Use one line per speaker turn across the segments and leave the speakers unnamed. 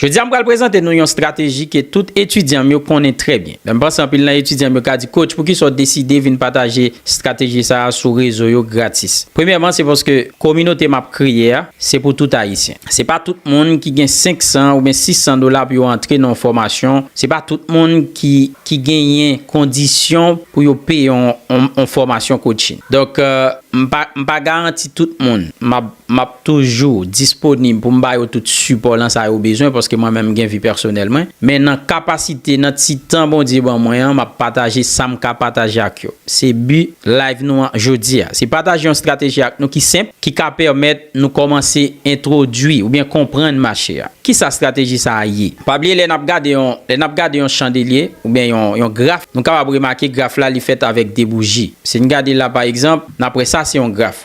Jodi a m pral prezante nou yon strateji ke tout etidyan m yo konnen trè byen. Men m panse anpil nan etidyan m yo ka di Coach poukisa w deside vin pataje strateji sa a sou rezo yo gratis? Premyèman se paske kominote m ap kreye a se pou tout Ayisyen. Se pa tout moun ki gen 500 oubyen 600 dola pou yo antre nan yon fòmasyon, se pa tout moun ki ki genyen kondisyon pou yo peye yon yon fòmasyon coaching. Donk m pa m pa garanti tout moun m ap M ap toujou disponib pou m ba yo tout sipò lan sa yo bezwen paske mwen menm m gen vi pèsonèl mwen. Men nan kapasite, nan ti tan Bondye ban mwen an, m ap pataje sa m ka pataje ak yo. Se bi live nou an jodi a. Se pataje yon strateji ak nou ki senp, ki ka pèmèt nou kòmanse entwodui oubyen konprann mache a. Kisa strateji sa a ye? Pa bliye lè n ap gade yon, lè n ap gade yon chandelye oubyen yon, yon graf, nou kapab remake graf la li fèt avèk 2 bouji. Si n gade la pa egzanp, n ap wè sa se yon graf.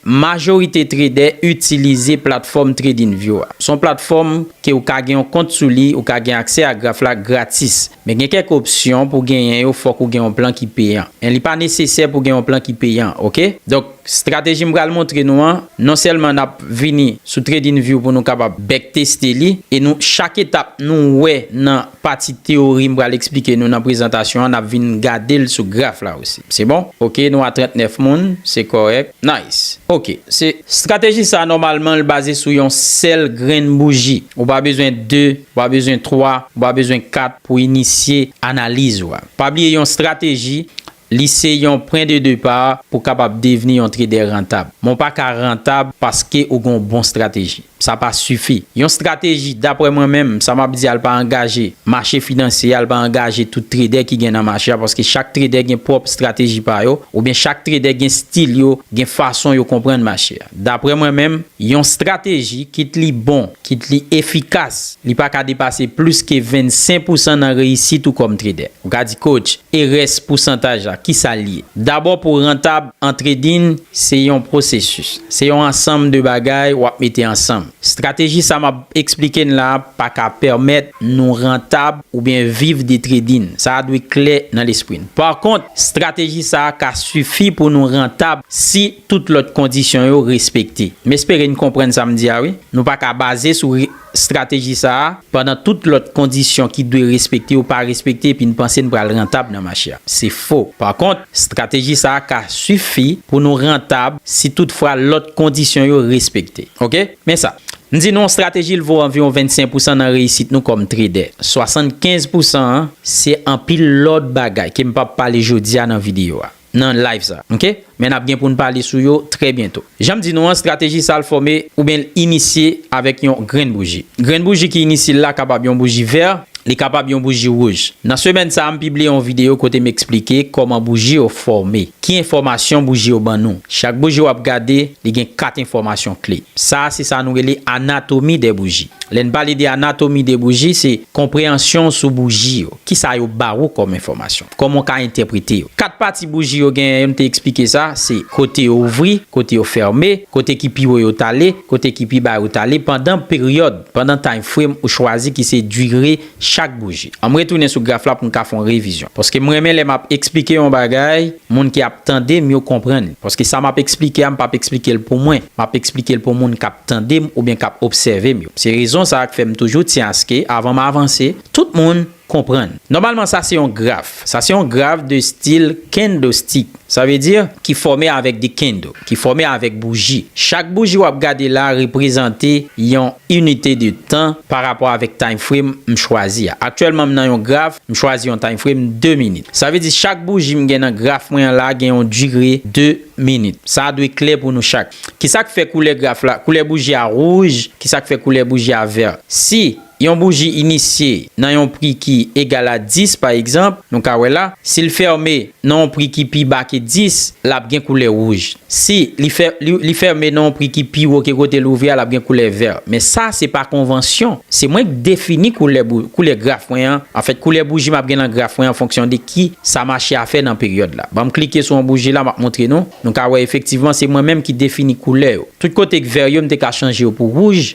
Majorite tredè itilize platfòm TradingView a. Son platfòm ke ou ka gen yon kont sou li, ou ka gen aksè a graf la gratis. Men gen kèk opsyon pou genyen yo fòk ou gen yon plan ki peyan. Men li pa nesesè pou gen yon plan ki peyan ok. Donk strateji m pral montre nou an, non sèlman nap vini sou TradingView pou nou kapab bèkteste li e nou chak etap nou wè nan Pati teyori m pral eksplike nou nan prezantasyon an nap vin gade l sou graf la osi. Se bon? Ok nou a 39 moun, se kòrèk. Nice! Ok. Se. Strateji sa nòmalman l baze sou yon sèl grenn bouji. Ou pa bezwen 2, ou pa bezwen 3, ou pa bezwen 4 pou inisye analiz ou a. Pa bliye yon strateji Li se yon pwen de depa pou kapab devni yon tredè rantab. Men w pa ka rantab paske ou gen yon bon strateji. Sa pa sifi. Yon strateji, dapre mwen menm, sa m ap di a l pa angaje mache finansye a, l pa angaje tout tredè ki gen nan mache a paske chak tredè gen pwòp strateji pa yo oubyen chak tredè gen stil yo, gen fason yo konprann mache. Daprè mwen menm, yon strateji, kit li bon, kit li efikas, li pa ka depase plis ke 25 pousan nan reyisit ou kòm tredè. Ou ka di, Coach, e rès pousantaj la, ki sa l ye? Dabò pou rantab an trading, se yon pwosesis. Se yon ansanm de bagay w ap mete ansanm. Strateji sa m ap eksplike n la a pa ka pèmèt nou rantab oubyen viv de trading. Sa a dwe klè nan lespri n. Pakont, strateji sa a ka sifi pou nou rantab si. tout lòt kondisyon yo respekte. M espere n konprann sa m di a wi. Nou pa ka baze sou strateji sa a pandan tout lòt kondisyon ki dwe respekte yo pa respekte epi n panse n pral rantab nan mache a. Se fo. Pa kont, strateji sa a ka sifi pou nou rantab si tout fwa lòt kondisyon yo respekte. Ok? Men sa. M di nou, strateji l vo anviwon 25 pousan nan reyisit nou kòm tredè. 75 pousan an, se anpil lòt bagay ke m p ap pale jodi a nan videyo a. nan live sa ok men nap gen poun pale sou yo trè byento janm di nou an strateji sal fòme oubyen l inisye avèk yon grenn bouji grenn bouji ki inisye la kapab yon bouji vè li kapab yon bouji wouj nan semèn sa m pibliye yon videyo kote m esplike kòman bouji yo fòme ki enfòmasyon bouji yo ban nou chak bouji wap gade li gen 4 enfòmasyon kle sa se sa nou rele anatomi de bouji lè n pale de anatomi de bouji se konpreyansyon w sou bouji yo kisa yo ba wou kòm enfòmasyon. Kòman w ka entèprete yo? Kat pati bouji yo genyen yo, m te eksplike sa, se kote yo ouvri, kote yo fème, kote ki pi wo yo t ale, kote ki pi ba yo t ale pandan peryòd, pandan time frame ou chwazi ki se dire chak bouji. An m retounen sou graf la pou m ka fè yon revizyon. Paske m renmen lè m ap eksplike yon bagay, moun ki ap tande m yo konprann li. Paske sa m ap eksplike a m p ap eksplike l pou mwen, m ap eksplike l pou moun k ap tande m oubyen k ap obsève m yo. Se rezon sa a k fè m toujou tyen aske avan m avanse, tout moun. konprann. Nòmalman sa se yon graf. Sa se yon graf de stil kendo-stik. Sa vle di, ki fòme avèk de kendo, ki fòme avèk bouji. Chak bouji wap gade la reprezante yon inite de tan pa rapò avèk time frame m chwazi a. Aktyèlman m nan yon graf, m chwazi yon time frame 2 minit. Sa vle di chak bouji m gen nan graf mwen an la gen yon dire 2 minit. Sa a dwe klè pou nou chak. Kisak fè koulè graf la, koulè bouji a rouj, kisak fè koulè bouji a vèr? Si Yon bouji inisye nan yon pri ki egal a 10, pa egzanp, nou ka wè la, si l fème nan yon pri ki pi ba ke 10, l ap gen koulè wouj. Si li fè, li fème nan yon pri ki pi wo ke kote l ouvri a, l ap gen koulè vè. Men sa, se pa konvansyon. Se mwen k defini koulè bou, koulè graf mwen an, anfèt, koulè bouji m ap gen nan graf mwen an fonksyon de ki sa mache a fè nan peryòd la. Ban m klike sou yon bouji la, m ap montre nou. Nou ka wè efektivman se mwen menm ki defini koulè yo. Tout kote k vè yo, m te ka chanje yo pou wouj.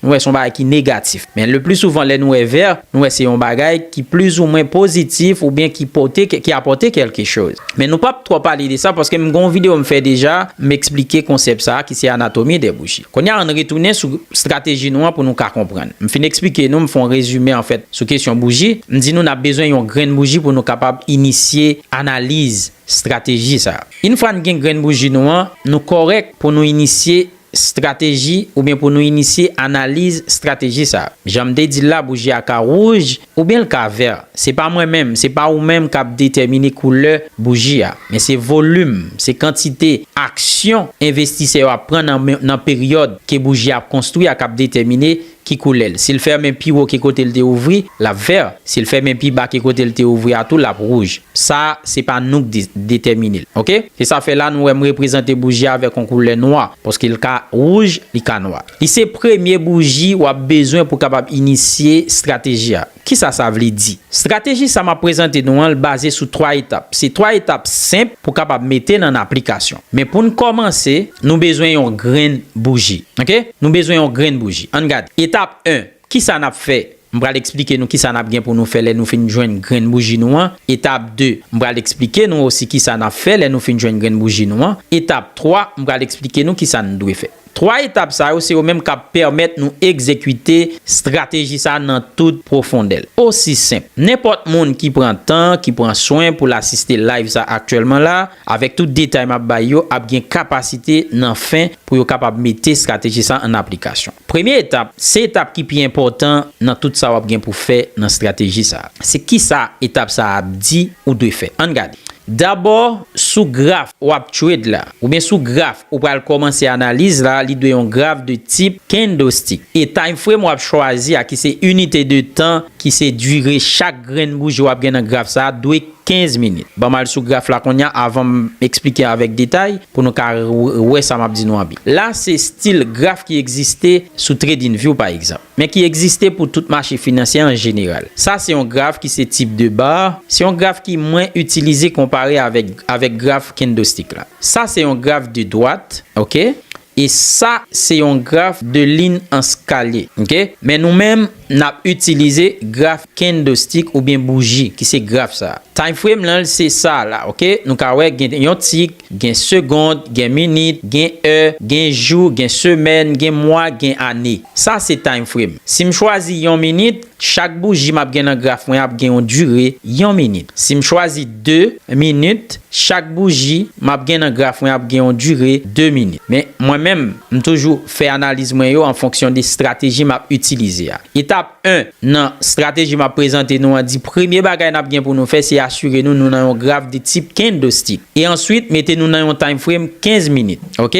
Nou wè se yon bagay ki negatif. Men le pli souvan lè nou wè vè, nou wè se yon bagay ki plizoumwen pozitif oubyen ki pote, ki apòte kèlke choz. Men nou pap twò pale de sa paske m gen yon videyo m fè deja, m eksplike konsèp sa a ki se anatomi de bouchi. Kounye a ann retounen sou strateji nou an pou nou ka konprann. M fin eksplike nou, m fè yon rezime anfèt sou kesyon bouji. M di nou n ap bezwen yon grenn bouji pou nou kapab inisye analiz, strateji sa a. Infwa n gen grenn bouji nou an, nou kòrèk pou nou inisye Strateji oubyen pou nou inisye analiz strateji sa. Jan m te di l la bouji a ka wouj oubyen l ka vè. Se pa mwen menm, se pa ou menm k ap detèmine koulè bouji a. Men se volim, se kantite aksyon envestisè yo ap pran nan peryòd ke bouji a ap konstwi a k ap detèmine ki koulè l. Si l fèmen pi wo ke kote l te ouvri, l ap vè. Si l fèmen pi ba ke kote l te ouvri a tou, l ap wouj. Sa, se pa nou k di, detèmine l. Oke? Se sa fè la nou wè m reprezante bouji a avèk yon koulè nwa, paske l ka wouj, li ka nwa. Li se premye bouji w ap bezwen pou kapab inisye estrateji a. Kisa sa vle di? Strateji sa map prezante nou an l baze sou 3 etap. Se 3 etap senp pou kapab mete nan aplikasyon. Men pou n kòmanse, nou bezwen yon grenn bouji. Ok, nou bezwen yon grenn bouji. An n gade. Etap 1, kisa nap fè? M pral eksplike nou kisa nap gen pou nou fè lè nou fin jwenn grenn bouji nou an. Etap 2, m pral eksplike nou osi kisa nap fè lè nou fin jwenn grenn bouji nou an. Etap 3, m pral eksplike nou kisa n dwe fè. Twa etap sa yo se yo menm k ap pèmèt nou egzekite estrateji sa nan tout pwofondè l. Osi senp, nenpòt moun ki pran tan, ki pran swen pou l asiste live sa aktyèlman la, avèk tout detay m ap bay yo, ap gen kapasite nan fen pou yo kapab mete estrateji sa an aplikasyon. Premye etap, se etap ki pi enpòtan nan tout sa w ap gen pou fè nan estrateji sa. Se kisa etap sa ap di ou dwe fè? Ann gade. Dabò, sou graf w ap trade la, oubyen sou graf ou pral kòmanse analiz la, li dwe yon graf de tip candlestick. E time frame w ap chwazi a ki se inite de tan ki se dire chak grenn bouji w ap gen nan graf sa a dwe 15 minit. Ban m al sou graf la kounye a avan m eksplike avèk detay pou nou ka wè sa m ap di nou an byen. La se stil graf ki egziste sou TradingView pa egzanp. men ki egziste pou tout mache finansyè an jeneral. Sa se yon graf ki se tip de bar, se yon graf ki mwen itilize konpare avèk avèk graf kendostik la. Sa se yon graf de dwat, ok, e sa se yon graf de lin an skalye, ok. Men nou menm n ap itilize graf kendostik oubyen bouji ki se graf sa a. Time frame lan l se sa a la, ok. Nou ka wè gen yon tik, Gen segond, gen minit, gen è, gen jou, gen semèn, gen mwa, gen ane. Sa se time frame. Si m chwazi yon minit, chak bouji m ap gen nan graf mwen ap gen yon dire yon minit. Si m chwazi 2 minit, chak bouji m ap gen nan graf mwen ap gen yon dire 2 minit. Men, mwen menm, m toujou fè analiz mwen yo an fonksyon de strateji m ap itilize a. Etap. 1. Nan strateji map prezante nou an di premye bagay nap gen pou nou fè se asire nou nou nan yon graf de tip candlestick e answit mete nou nan yon time frame 15 minit ok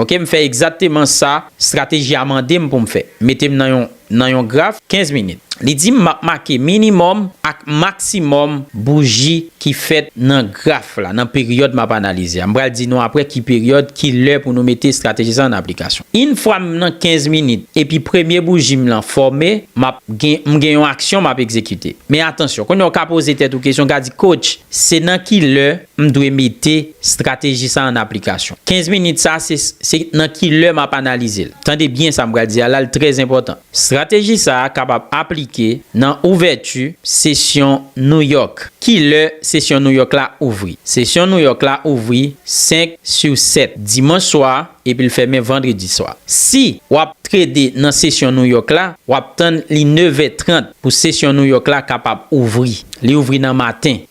ok m fè egzakteman sa strateji a mandem poum fè metem nan yon nan yon graf 15 minit li dim map make minimum ak maximum bougie ki fèt nan graf la, nan peryòd m ap analize a. M pral di nou apre ki peryòd, ki lè pou nou mete estrateji sa an nan aplikasyon. Yn fwa m nan 15 minit epi premye bouji m lan fòme, m ap gen, m gen yon aksyon m ap egzekite. Men atansyon, kounye a w ka poze tèt ou kesyon, w ka di, Coach, se nan ki lè m dwe mete estrateji sa an nan aplikasyon? 15 minit sa a, se, se nan ki lè m ap analize l? Tande byen sa m pral di a la, l trèzenpòtan. Strateji sa a kapab aplike nan ouvèti sesyon New York. Ki lè sesyon New York la ouvri? Sesyon New York la ouvri 5 su 7 dimanch swa epi l fèmen vandredi swa. Si w ap trede nan sesyon New York la, w ap tann li 9 è 30 pou sesyon New York la kapab ouvri. Li ouvri nan maten.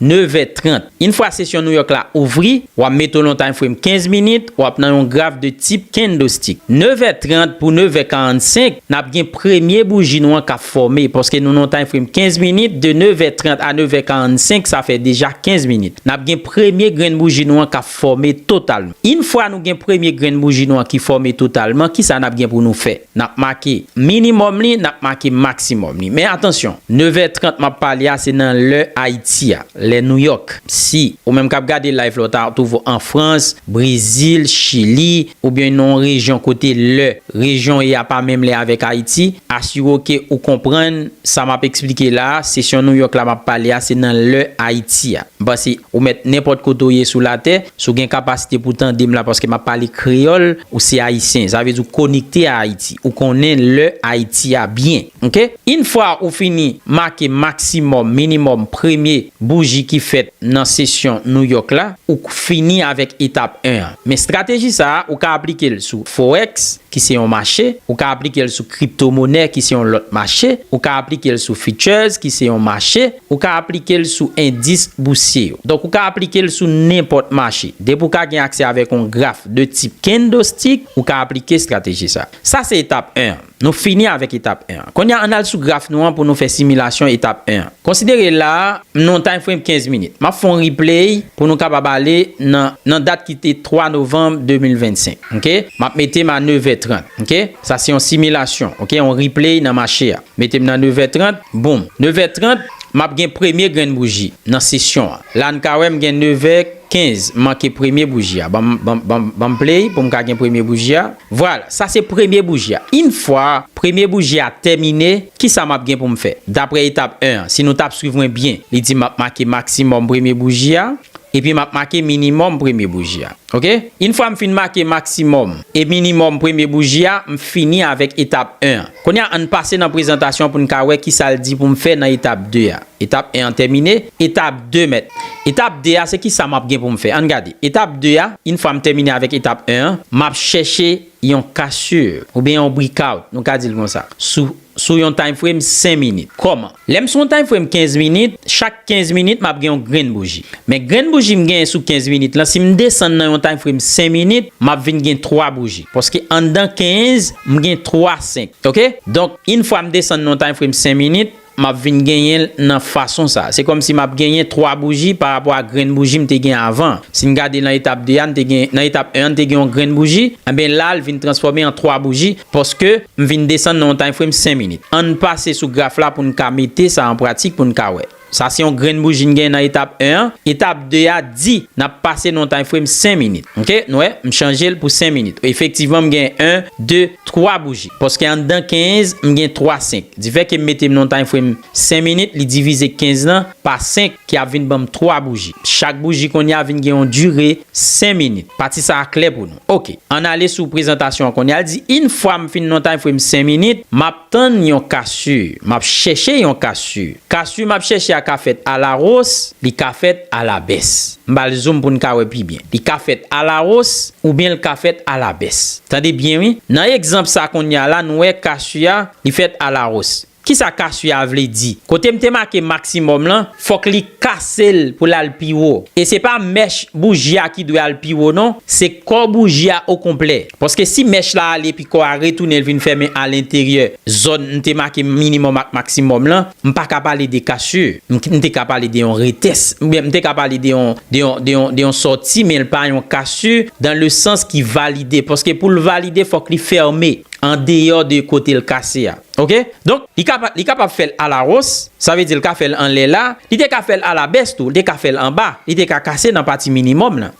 Nevè trant. Yn fwa sesyon Nouyòk la ouvri, wa mete w lontan frèm 15 minit, wap nan yon graf de tip kendostik. Nevè trant pou nevè karannsenk, nap gen premye bouji nou an kap fòme, paske nou nan yon time frèm 15 minit, de nevè trant a nevè karannsenk sa fè deja 15 minit. Nap gen premye grenn bouji nou an kap fòme totalman. Yn fwa nou gen premye grenn bouji nou an ki fòme totalman, kisa nap gen pou nou fè? N ap make minimòm li, n ap make maksimòm li. Men atansyon, nevè trant m ap pale a se nan lè Ayiti a, lè Nouyòk. Si ou menm k ap gade layv la ou ta twouve an Frans, Brezil, Chili oubyen nan yon rejyon kote lè rejyon w ye a pa menm lè avèk Ayiti, asire w ke ou konprann sa m ap eksplike la a, sesyon Nouyòk la m ap pale a se nan lè Ayiti a. M panse ou mèt nenpòt kote ou ye sou latè, si w gen kapasite pou w tande m la paske m ap pale kreyòl. Ou se Ayisyen, sa vle di ou konekte a Ayiti. Ou konnen lè Ayiti a byen. Ok. Yn fwa ou fini make maksimòm, minimòm premye bouji ki fèt nan sesyon New York la, ou k fini avèk etap 1 an. Men strateji sa a, ou ka aplike l sou Forex, ki se yon mache. Ou ka aplike l sou kriptomonè, ki se yon lòt mache. Ou ka aplike l sou Futures, ki se yon mache. Ou ka aplike l sou endis bousye yo. Donk ou ka aplike l sou nenpòt mache. Depi w ka gen aksè avèk yon graf de tip kendo-stik, ou ka aplike estrateji sa. Sa se etap 1 an. Nou fini avèk etap 1 an. Kounye a, ann al sou graf nou an pou nou fè similasyon etap 1 an. Konsidere la a, m nan yon time frame 15 minit. M ap fè yon replay pou nou kapab ale nan nan dat ki te 3 novanm 2025. Ok? M ap mete m a 9 è 30. Ok? Sa se yon similasyon. Ok? Yon replay nan mache a. Mete m nan nevè trant, boom. Nevè trant, m ap gen premye grenn bouji nan sesyon an. La n ka wè m gen nevè kenz, m manke premye bouji a. Ban m play pou m ka gen premye bouji a. Vwala, sa se premye bouji a. Infwa premye bouji a tèmine, kisa m ap gen pou m fè? Dapre etap 1 an, si nou t ap swiv mwen byen, li di m ap make maksimòm premye bouji a, epi m ap make minimòm premye bouji a. Ok? Infwa m fin make maksimòm e minimòm premye bouji a, m fini avèk etap 1 an. Kounye a, ann pase nan prezantasyon pou n ka wè ki sa l di pou m fè nan etap 2 a. Etap 1 an tèmine. Etap 2, Mèt. Etap 2 a, se ki sa m ap gen pou m fè? Ann gade. Etap 2 a, Yn fwa m tèmine avèk etap 1 an, m ap chèche yon cassure, oubyen yon breakout, nou ka di l konsa, sou sou yon time frame 5 minit. Kòman? Lè m sou yon time frame 15 minit, chak 15 minit map gen yon grenn bouji. Men grenn bouji m genyen sou 15 minit lan si m desann nan yon time frame 5 minit, map vin gen 3 bouji. Paske anndan 15, m gen 3 5. Ok? Donk, yn fwa m desann nan yon time frame 5 minit, map vin genyen l nan fason sa. Se kòmsi map genyen 3 bouji pa rapò a grenn bouji m te gen avan an. Si n gade nan etap 2 a, n te gen, nan etap 1 an n te gen yon grenn bouji, enben la l vin transfòme an 3 bouji, Paske, m vin desann nan yon time frame 5 minit. Ann pase sou graf la pou n ka mete sa an pratik pou n ka wè. Sa se yon grenn bouji n gen nan etap 1 an. Etap 2 a di n ap pase nan yon time frame 5 minit. Ok, n wè, m chanje l pou 5 minit. Efektivman m gen 1, 2, 3 bouji. Paske anndan 15, m gen 3 5. Difè ke m mete m nan yon time frame 5 minit, li divize 15 lan pa 5 ki ap vin ban m 3 bouji. Chak bouji kounye a vin gen yon dire 5 minit. Pati sa a klè pou nou. Ok. Ann ale sou prezantasyon an kounye a. L di, Yn fwa m fin nan time frame 5 minit, m ap tann yon kasu. M ap chèche yon kasu. Kasu m ap chèche a ka fèt a la ros, li ka fèt a la bès. M ba l zoom pou n ka wè pi byen. Li ka fèt a la ros oubyen l ka fèt a la bès. Tande byen wi. Nan egzanp sa kounye a la nou wè kasu a li fèt a la ros. Kisa kasye a vle di? Kotem te make maximum lan fok li kasel pou lal pi wo. E se pa mèch bouji a ki dwe al pi wo non, se kò bouji a o konplè. Paske si mèch la ale epi kò a retounen l vin fèmen a lenteryè zòn m te make minimum ak maximum lan, m pa ka pale de kasye. M te ka pale de yon retès oubyen m te ka pale de yon de yon de yon de yon sòti men l pa yon kasye dan le sans ki valide. Paske pou l valide fok li fème an deyò de kote l kase a. Ok donk li ka li kapab fèl ala ros sa vle di li ka fèl anlè la li te ka fèl ala bès tou li te ka fèl anba li te ka kase nan pati minimòm lan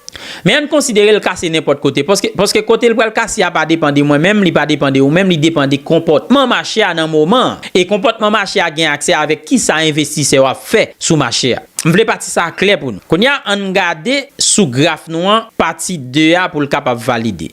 men ann konsiderel kase nenpòt kote paske paske kotel pral kase a pa depan de mwen menm li pa depan de ou menm li depan de konpòtman mache a nan moman an e konpòtman mache a gen aksè avèk kisa envestisè yo ap fè sou mache a m vle pati sa a klè pou nou kounya ann gade sou graf nou an pati 2 a poul kapab valide.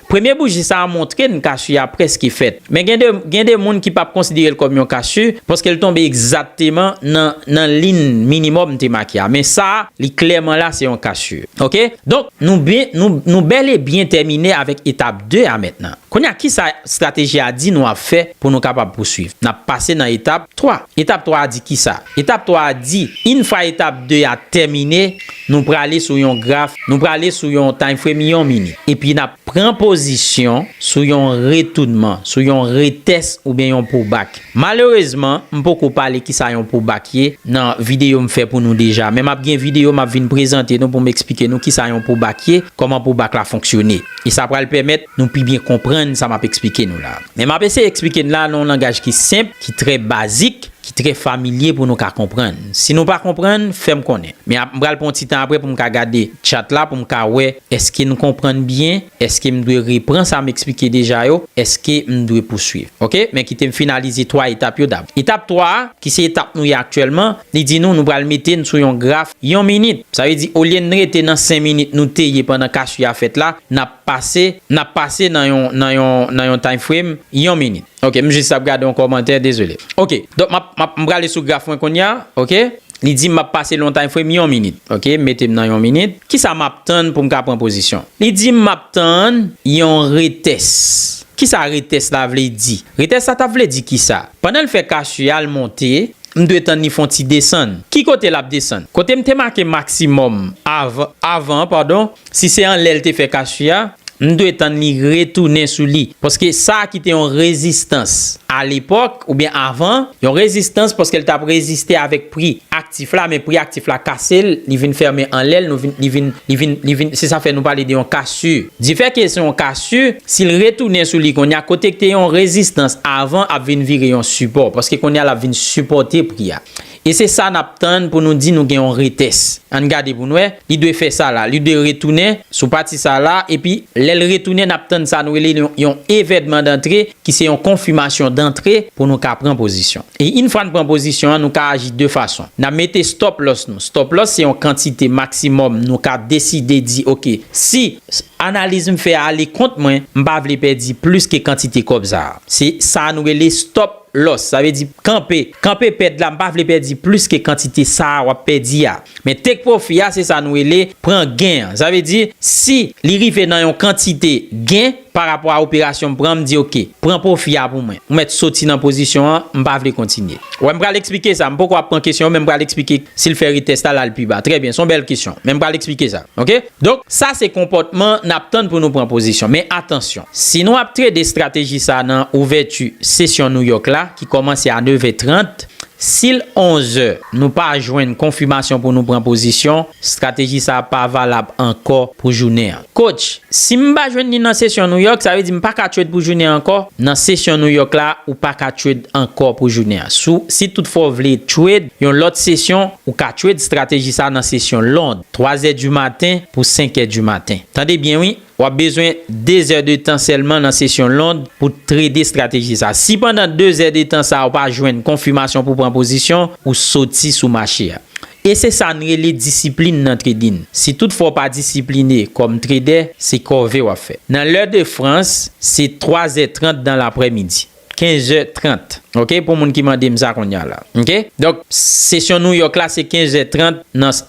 Premye bouji sa a montre n casu a prèske fèt. Men gen de gen de moun ki pap konsidere l kòm yon casu paske l tonbe egzakteman nan nan lin minimòm m te make a. Men sa a li klèman la se yon casu. Ok? Donk, nou byen nou nou bèl e byen tèmine avèk etap 2 a mentnan. Kounye a kisa estrateji a di nou ap fè pou nou kapab pousuiv? N ap pase nan etap 3. Etap 3 a di kisa? Etap 3 a di, in fwa etap 2 a tèmine, Nou prale sou yon graf, nou prale sou yon time frame yon minit. Epi n ap pran pozisyon sou yon retounman, sou yon retès oubyen yon poubak. Malerezman, m poko pale kisa yon poubak ye nan videyo m fè pou nou deja. Men m ap gen videyo m ap vin prezante nou pou m eksplike nou kisa yon poubak ye, kòman poubak la fonksyone. E sa pral pèmèt nou pi byen konprann sa m ap eksplike nou la. Men m ap eseye eksplike n la nan yon langaj ki senp, ki trè bazik. ki trè familye pou nou ka konprann. Si nou pa konprann, fè m konnen. Men ap m pral pran yon ti tan apre pou m ka gade tchat la pou m ka wè èske n konprann byen, èske m dwe repran sa m eksplike deja yo, èske m dwe pouswiv. Ok, men kite m finalize 3 etap yo dabò. Etap 3 a, ki se etap nou ye aktyèlman, li di nou nou pral mete n sou yon graf yon minit. Sa vle di olye n rete nan 5 minit nou te ye pandan kasu a fèt la, n ap pase, n ap pase nan yon, nan yon, nan yon time frame yon minit. Ok m jis ap gade yon kòmantè dezole ok donk map map m prale sou graf mwen konnya ok li dim map pase lontan frèm yon minit ok m metem nan yon minit kisa map tann poum ka pran pozisyon li dim map tann yon retès kisa retès la vle di retès la tap vle di kisa pandan l fè cash u a l monte m dwe tann li fon ti desann ki kote lap desann kotem te make maksimòm av avan an padon Si se anlè l te fè kasu a, m dwe tann li retounen sou li. Paske sa ki te yon rezistans alepòk oubyen avan, yon rezistans paske l t ap reziste avèk pri aktif la, men pri aktif la kase l, li vin fèmen anlè l, nou vin, li vin, li vin, li vin, se sa fè nou pale de yon kasu. Difèke se yon kasu, si l retounen sou li kounye a, kote k te yon rezistans avan ap vin vire yon sipò, paske kounye a l ap vin sipòte pri a. E se sa nap tann pou nou di nou gen yon retes. Ann gade pou n wè. Li dwe fè sa la. Li dwe retounen sou pati sa la epi lè l retounen nap tann sa nou rele yon evèdman dantre ki se yon konfimasyon dantre pou nou ka pran pozisyon. E in fwa n pran pozisyon an nou ka aji de fason. Nan mete stop loss nou. Stop loss se yon kantite maksimòm nou ka deside di ok si analiz m fè a ale kont mwen m pa vle pèdi plis ke kantite kòb sa a. Se sa nou rele stop Lòs, sa vle di kanpe. Kanpe pèd la, m pa vle pèdi plis ke kantite sa a w ap pèdi a. Men take profit a se sa nou rele pran gen an. Sa vle di, si li rive nan yon kantite gen pa rapò a operasyon m pran, m di ok, pran pwofi a pou mwen. Ou mèt soti nan pozisyon an, m pa vle kontinye. Wè m pral eksplike sa, m poko ap pran kesyon yo men m pral eksplike si l fè retest la l al pi ba. Trè byen, s on bèl kesyon. Men m pral eksplike sa. Ok. Donk, sa se konpòtman n ap tann pou nou pran pozisyon. Men atansyon, si nou ap trede estrateji sa nan ouvèti sesyon Nouyòk la ki kòmanse a nevè trant, si l onzè nou pa jwenn konfimasyon pou nou pran pozisyon, estrateji sa pa valab ankò pou jounen an. Coach, si m pa jwenn li nan sesyon Nouyòk, sa vle di m pa ka trade pou jounen an ankò? Nan sesyon Nouyòk la, ou pa ka trade ankò pou jounen an. Si toutfwa w vle trade yon lòt sesyon, ou ka trade estrateji sa nan sesyon Lond. 3 zè di maten pou 5 è di maten. Tande byen wi, w ap bezwen 2 zè de tan sèlman nan sesyon Lond pou trede strateji sa. Si pandan 2 zè de tan sa ou pa jwenn konfimasyon pou pran pozisyon, ou soti sou mache a. E se sa n rele disiplin nan tradin. Si tout fwa w pa disipline kòm tredè, se kòve w ap fè. Nan lè de Frans, se 3 zè 30 dan laprè midi. 15 zè 30 ok pou moun ki mande m sa kounya la ok donk sesyon New York la se 15 zè 30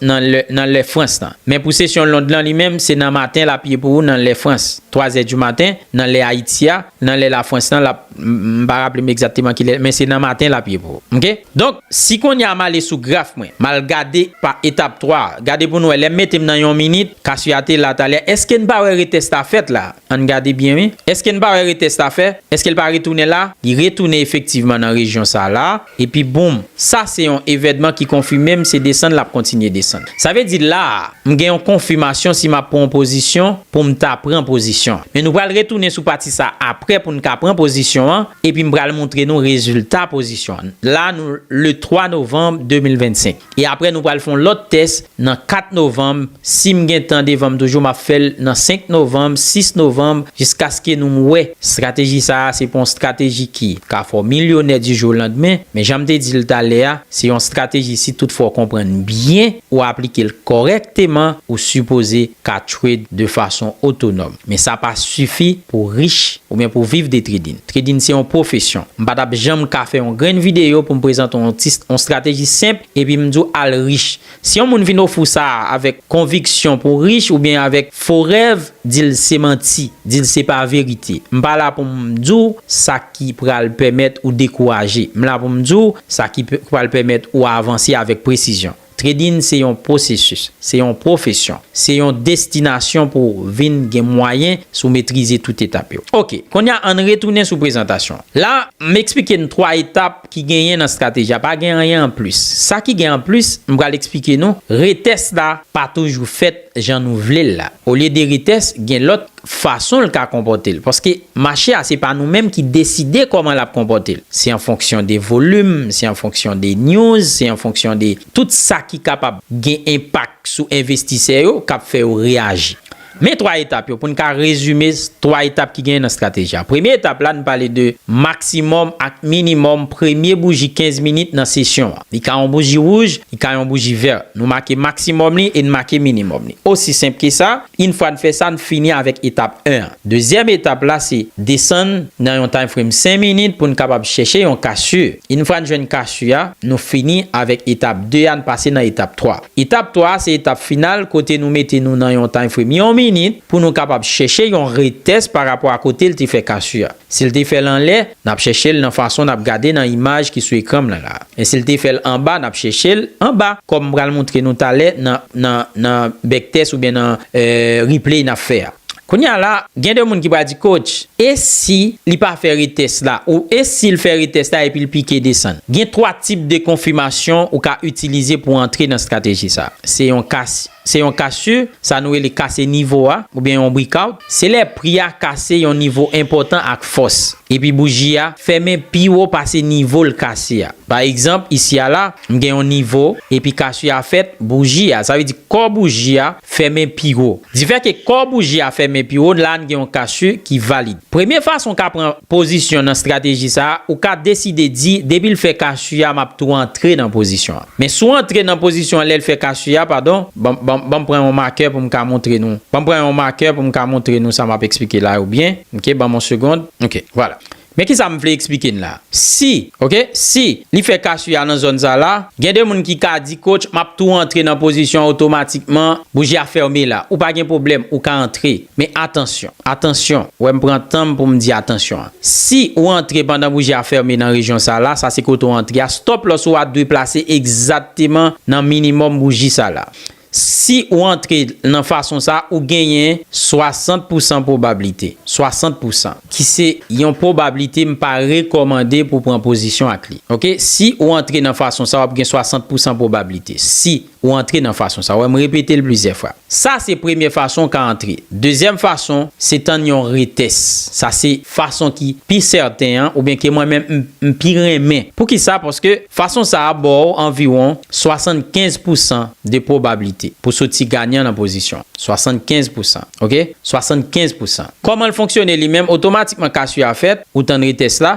nan lè frans la men pou sesyon Lond lan li menm se nan maten lap ye pou ou nan lè frans 3 zè di maten nan lè ayiti a nan lè la frans lan lap m pa raple m egzakteman kilè men se nan maten lap ye pou ou ok donk si kounya m ale sou graf mwen m al gade pa etap 3 gade pou nou wè lè m mete m nan yon minit kasiyate la talè eske n pa wè retès la fèt la. Ann gade byen wi. Eske n pa wè retès la fè? Eske l pa retounen la? Li retounen efektivman nan rejyon sa la, epi boom! Sa se yon evèdman ki konfime m se desann l ap kontinye desann. Sa vle di la a, m gen yon konfimasyon si m ap pran yon pozisyon pou m ta pran pozisyon. Men nou pral retounen sou pati sa a aprè pou n ka pran pozisyon an, epi m pral montre nou rezilta pozisyon an. La a nou le 3 novanm 2025. E aprè nou pral fon lòt tès nan 4 novanm, sim gen tan devanm toujou map fèl nan 5 novanm, 6 novanm jiskaske nou wè strateji sa a se pa yon strateji ki ka fè w milyonè di jou o landmen, men janm te di l talè a se yon strateji si tout fwa w konprann byen ou aplike l kòrèkteman ou sipoze ka trade de fason otonòm. Men sa pa sifi pou w rich oubyen pou w viv de trading. Trading se yon pwofesyon. M pa t ap janm ka fè yon grenn videyo pou m prezante w yon ti yon strateji senp epi m di w al rich. Si yon moun vin ofri w sa a avèk konviksyon pou w rich oubyen avèk fo rèv, di l se manti, di l se pa verite. M pa la pou m di w sa ki pral pèmèt ou dekouraje. M la pou m di w sa ki pral pèmèt ou avanse avèk presizyon. Trading se yon pwosesis, se yon pwofesyon, se yon destinasyon pou vin gen mwayen si w metrize tout etap yo. Ok, kounye a ann retounen sou prezantasyon. La, m eksplike n 3 etap ki genyen nan strateji a, pa gen anyen anplis. Sa ki gen anplis, m pral eksplike nou, retès la pa toujou fèt jan nou vle l la. Olye de retès, gen lòt fason l ka konpòte l. Paske mache a se pa nou menm ki deside kòman l ap konpòte l. Se an fonksyon de volim, se an fonksyon de news, se an fonksyon de tout sa ki kapab gen enpak sou envestisè yo k ap fè yo reyaji. Men 3 etap yo pou n ka rezime 3 etap ki genyen nan strateji a. Premye etap la nou pale de maksimòm ak minimòm premye bouji 15 minit nan sesyon an. Li ka yon bouji wouj, li ka yon bouji vèt. Nou make maksimòm li e n make minimòm li. Osi senp ke sa. Yn fwa n fè sa, n fini avèk etap 1 an. Dezyèm etap la se desann nan yon time frame 5 minit pou n kapab chèche yon kasye. Yn fwa n jwenn kasye a, nou fini avèk etap 2 a, n pase nan etap 3. Etap 3 a se etap final kote nou mete nou nan yon time frame yon minit pou nou kapab chèche yon retest pa rapò a kote l te fè kasye a. Si l te fè l anlè, n ap chèche l nan fason n ap gade nan imaj ki sou ekran m lan la a. Men si l te fè l anba, n ap chèche l anba, kòm m pral montre nou talè nan, nan, nan bèktès oubyen nan, e, replay n ap fè a. Kounye a la, gen de moun ki pral di, Coach, e si li pa fè retès la? Ou e si l fè retès la epi l pike desann? Gen twa tip de konfimasyon ou ka itilize pou antre nan strateji sa a. Se yon ka si. Se yon kasur, sa nou rele kase nivo a, oubyen yon breakout, se lè pri a kase yon nivo enpòtan ak fòs, epi bouji a fèmen pi wo pase nivo l kase a. Pa egzanp, isi a la, m gen yon nivo, epi kasur a fèt, bouji a, sa vle di kò bouji a, fèmen pi wo. Difè ke kò bouji a fèmen pi wo, la n gen yon kasur ki valid. Premye fason w ka pran pozisyon nan strateji sa a, ou ka deside di depi l fè kasur a m ap tou antre nan pozisyon an. Men si w antre nan pozisyon an lè l fè kache a, padon. Ban, ban m pran yon makè pou m ka montre nou. Ban m pran yon makè pou m ka montre nou sa m ap eksplike la yo byen. Ok, ban m yon segond. Ok, vwala. Men ki sa m vle eksplike n la a. Si, ok, si li fè kache a nan zòn sa la, gen de moun ki ka di, Coach, m ap tou antre nan pozisyon an otomatikman, bouji a fèmen la. Ou pa gen pwoblèm, ou ka antre. Men atansyon, atansyon, wè m pran tan m pou m di atansyon an. Si ou antre pandan bouji a fèmen nan rejyon sa la, sa se kote ou antre a, stop loss ou a dwe plase egzakteman nan minimòm bouji sa la. Si ou antre nan fason sa, ou genyen 60 pou san pwobablite, 60 pou san, ki se yon pwobablite m pa rekòmande pou pran pozisyon ak li. Ok, si ou antre nan fason sa, w ap gen 60 pou san pwobablite. Si. Ou antre nan fason sa. Wè m repete l plizyè fwa. Sa se premye fason w ka antre. Dezyèm fason, se tann yon retès. Sa se fason ki pi sèten an oubyen ke mwen menm m pi renmen. Poukisa? Paske fason sa a ba w anviwon 75 pousan de pwobablite pou soti ganyan nan pozisyon an. 75 pousan. Ok? 75 pousan. Kòman l fonksyone li menm? Otomatikman kas yo a fèt, ou tann retès la,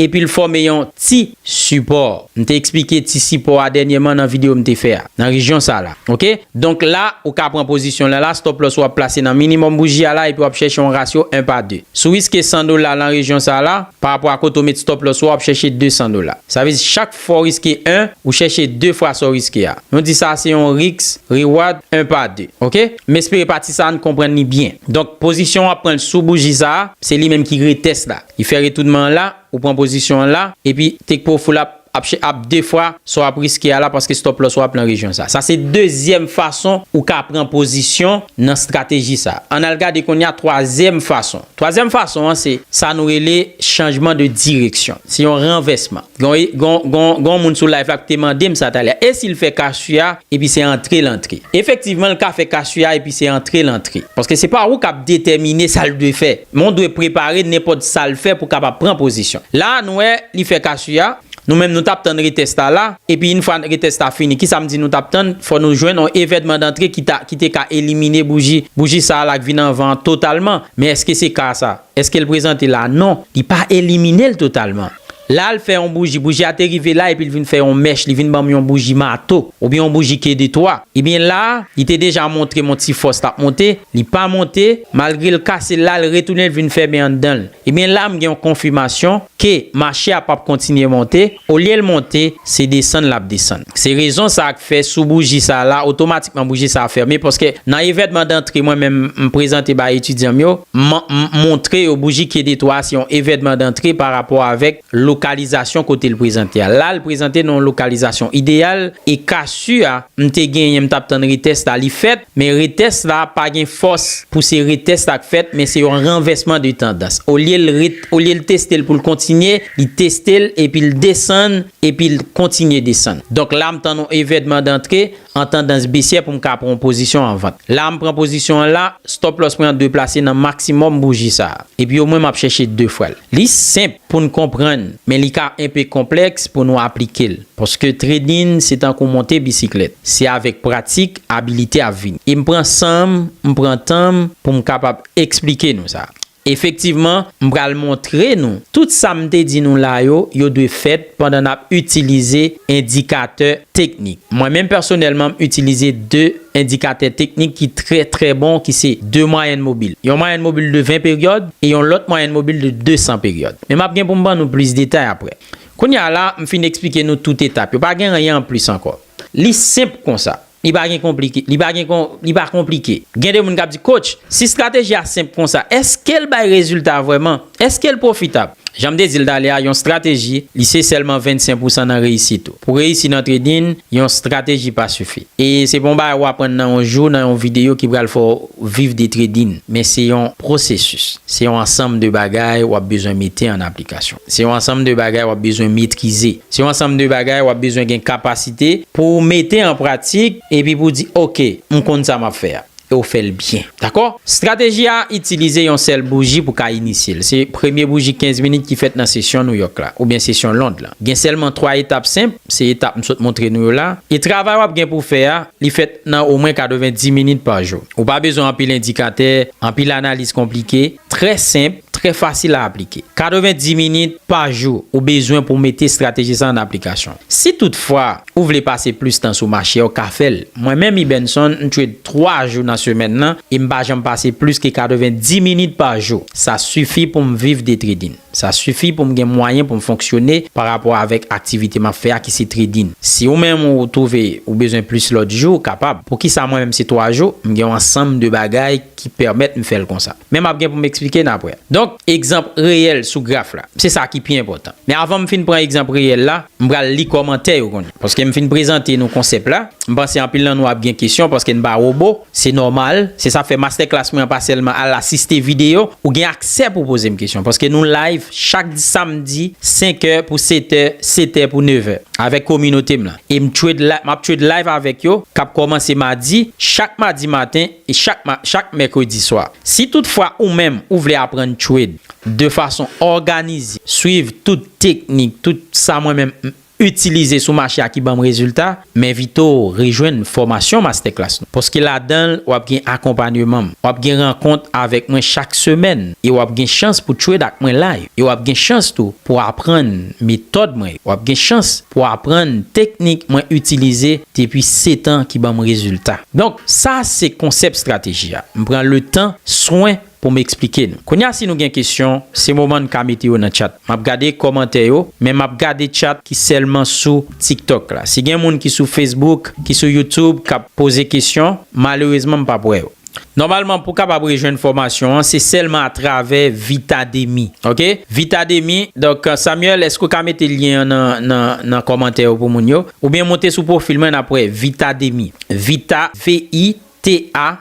epi l fòme yon ti sipò, m te eksplike ti sipò a dènyèman nan videyo m te fè a, nan rejyon sa la ok, donk la ou ka pran pozisyon w lan la, stop loss ou ap plase nan minimòm bouji a la epi w ap chèche yon rasyo 1 pa 2, si w riske 100 dola lan rejyon sa la, parapò a kote w met stop loss ou a w ap chèche 200 dola, sa vle di chak fwa w riske 1, ou chèche 2 fwa sa w riske a, nou di sa a se yon risk reward 1 pa 2 ok, m espere pati sa a n konprann li byen, donk pozisyon w ap pran l sou bouji sa a, se li menm ki retest la. Li fè retounman an la, ou pran pozisyon an la, epi take profit la ap ap de fwa sa w ap riske a la paske stop loss ou a ap nan rejyon sa. Sa se dezyèm fason ou ka pran pozisyon nan strateji sa. Ann al gade kounye a twazyèm fason. Twazyèm fason an se sa nou rele chanjman de direksyon. Se yon ranvèsman. Gon e gon gon gon moun sou live la ki te mande m sa talè a. E si l fè cash u a epi se antre l antre? Efektivman l ka fè cash u a epi se antre l antre. Paske se pa ou k ap detèmine sa l dwe fè. Men w dwe prepare nenpòt sa l fè pou kapab pran pozisyon. La a nou wè li fè kasu a, nou menm nou t ap tann retès la la, epi yn fwa retès la fini, kisa m di nou t ap tann, fò nou jwenn yon evènman dantre ki ta ki te ka elimine bouji bouji sa a la k vin anvan an totalman. Men èske se ka sa? Èske l prezante la a? Non, li pa elimine l totalman. La l fè yon bouji, bouji a te rive la epi l vin fè yon mèch, li vin ban m yon bouji mato, oubyen yon bouji ke de twa. Ebyen la, li te deja montre m yon ti fòs l ap monte, li pa monte, malgre l kase la l retounen l vin fèmen anndan l. Ebyen la m gen yon konfimasyon ke mache a p ap kontinye monte, olye l monte, se desann l ap desann. Se rezon sa k. fè sou bouji sa la otomatikman bouji sa fèmen paske nan evènman dantre mwen menm m prezante bay etidyan m yo m montre yo bouji ki de twa a se yon evènman dantre pa rapò avèk lokalizasyon kote l prezante a la l prezante nan yon lokalizasyon ideyal e casu a m te genyen m t ap tann retès la li fèt men retès la pa gen fòs pou se retès la k fèt men se yon ranvèsman de tandans olye l ret olye l teste l pou l kontinye li teste l epi l desann Epi l kontinye desann. Donk la m tann yon evèdman dantre an tandans besyè pou m ka pran yon pozisyon an vant. La a m pran pozisyon an la, stop loss mwen an dwe plase nan maksimòm bouji sa a. Epi omwen m ap chèche 2 fwa l. Li senp pou n konprann, men li ka enpe konplèks pou nou aplike l. Paske trading se tankou monte bisiklèt. Se avèk pratik, abilite ap vini. E m pran san m, m pran tan m pou m kapab eksplike nou sa. Efektivman, m pral montre nou. Tout sa m te di nou la yo, yo dwe fèt pandan n ap itilize endikatè teknik. Mwen menm pèsonèlman m itilize 2 endikatè teknik ki trè trè bon ki se 2 mwayèn mobil. Yon mwayèn mobil de 20 peryòd e yon lòt mwayèn mobil de 200 peryòd. Men m ap gen pou m ban nou plis detay aprè. Kounye a la, m fin eksplike nou tout etap yo. Pa gen anyen anplis ankò. Li senp konsa. Li pa gen konplike. Li pa gen kon, li pa konplike. Gen de moun k ap di, Coach, si strateji a senp konsa, èske l bay rezilta vrèman? Èske l pwofitab? Jan m te di l talè a, yon strateji, li se sèlman 25 pousan nan reyisit ou. Pou reyisi nan trading, yon strateji pa sifi. E se pa yon bagay ou aprann nan yon jou, nan yon videyo ki pral fè w viv de trading. Men se yon pwosesis. Se yon ansanm de bagay ou ap bezwen mete an aplikasyon. Se yon ansanm de bagay wap bezwen metrize. Se yon ansanm de bagay wap bezwen gen kapasite pou w mete an pratik epi pou w di ok, m konn sa map fè a. E w fè l byen. Dakò? Strateji a itilize yon sèl bouji pou ka inisye l. Se premye bouji 15 minit ki fèt nan sesyon Nouyòk la, oubyen sesyon Lond la. Gen sèlman 3 etap senp, se etap m sot montre nou yo la. E travay wap gen pou w fè a, li fèt nan omwen 90 minit pa jou. Ou pa bezwen anpil endikatè, anpil analiz konplike. Trè senp, trè fasil a aplike. 90 minit pa jou ou bezwen pou mete estrateji sa an aplikasyon. Si tout fwa ou vle pase plis tan sou mache a ou ka fè l. Mwen menm Ibenson m trade 3 jou nan semèn lan e m pa janm pase plis ke 90 minit pa jou. Sa sifi pou m viv de trading. Sa sifi pou m gen mwayen pou m fonksyone pa rapò avèk aktivite m ap fè a ki se trading. Si ou menm ou twouve ou bezwen plis lòt jou ou kapab. Poukisa mwen menm se 3 jou? M gen yon ansanm de bagay. ki pèmèt m fè l konsa. Men m ap gen pou m eksplike n aprè. Donk, egzanp reyèl sou graf la. Se sa ki pi enpòtan. Men avan m fin pran egzanp reyèl la, m pral li kòmantè yo kounye a. Paske m fin prezante nou konsèp la, m panse anpil nan nou ap gen kesyon paske n pa wobo. Se nòmal. Se sa k fè mastèklas mwen an pa sèlman al asiste videyo. Ou gen aksè pou w poze m kesyon paske nou layv chak samdi senkè pou setè, setè pou nevè avèk kominote m lan. E m trade, m ap trade layv avèk yo k ap kòmanse madi, chak madi maten. chak mèkredi swa. Si tout fwa ou menm ou vle aprann trade de fason òganize, swiv tout teknik, tout sa mwen menm m itilize sou mache a ki banm rezilta, m envite w rejwenn fòmasyon Masterclass nou. Paske ladan l wap gen akonpanyeman m, wap gen rankont avèk mwen chak semèn e wap gen chans pou trade ak mwen live. E wap gen chans tou pou aprann metòd mwen yo, wap gen chans pou aprann teknik mwen itilize Depi setan ki banm rezilta. Donk, sa se konsèp strateji a. M pran letan, swen pou m eksplike nou. Kounya si nou gen kesyon, se moman n ka mete yo nan tchat. M ap gade kòmantè yo, men m ap gade tchat ki sèlman sou TikTok la. Si gen moun ki sou Facebook, ki sou YouTube k ap poze kesyon, malerezman m p ap wè yo. Nòmalman pou kapab rejwenn fòmasyon an, se sèlman atravè Vitademy. Ok, Vitademy, donk Samuel, èske w ka mete lyen an nan kòmantè yo pou moun yo? Ou byen monte sou profil mwen nap wè Vita Demy Vita VITA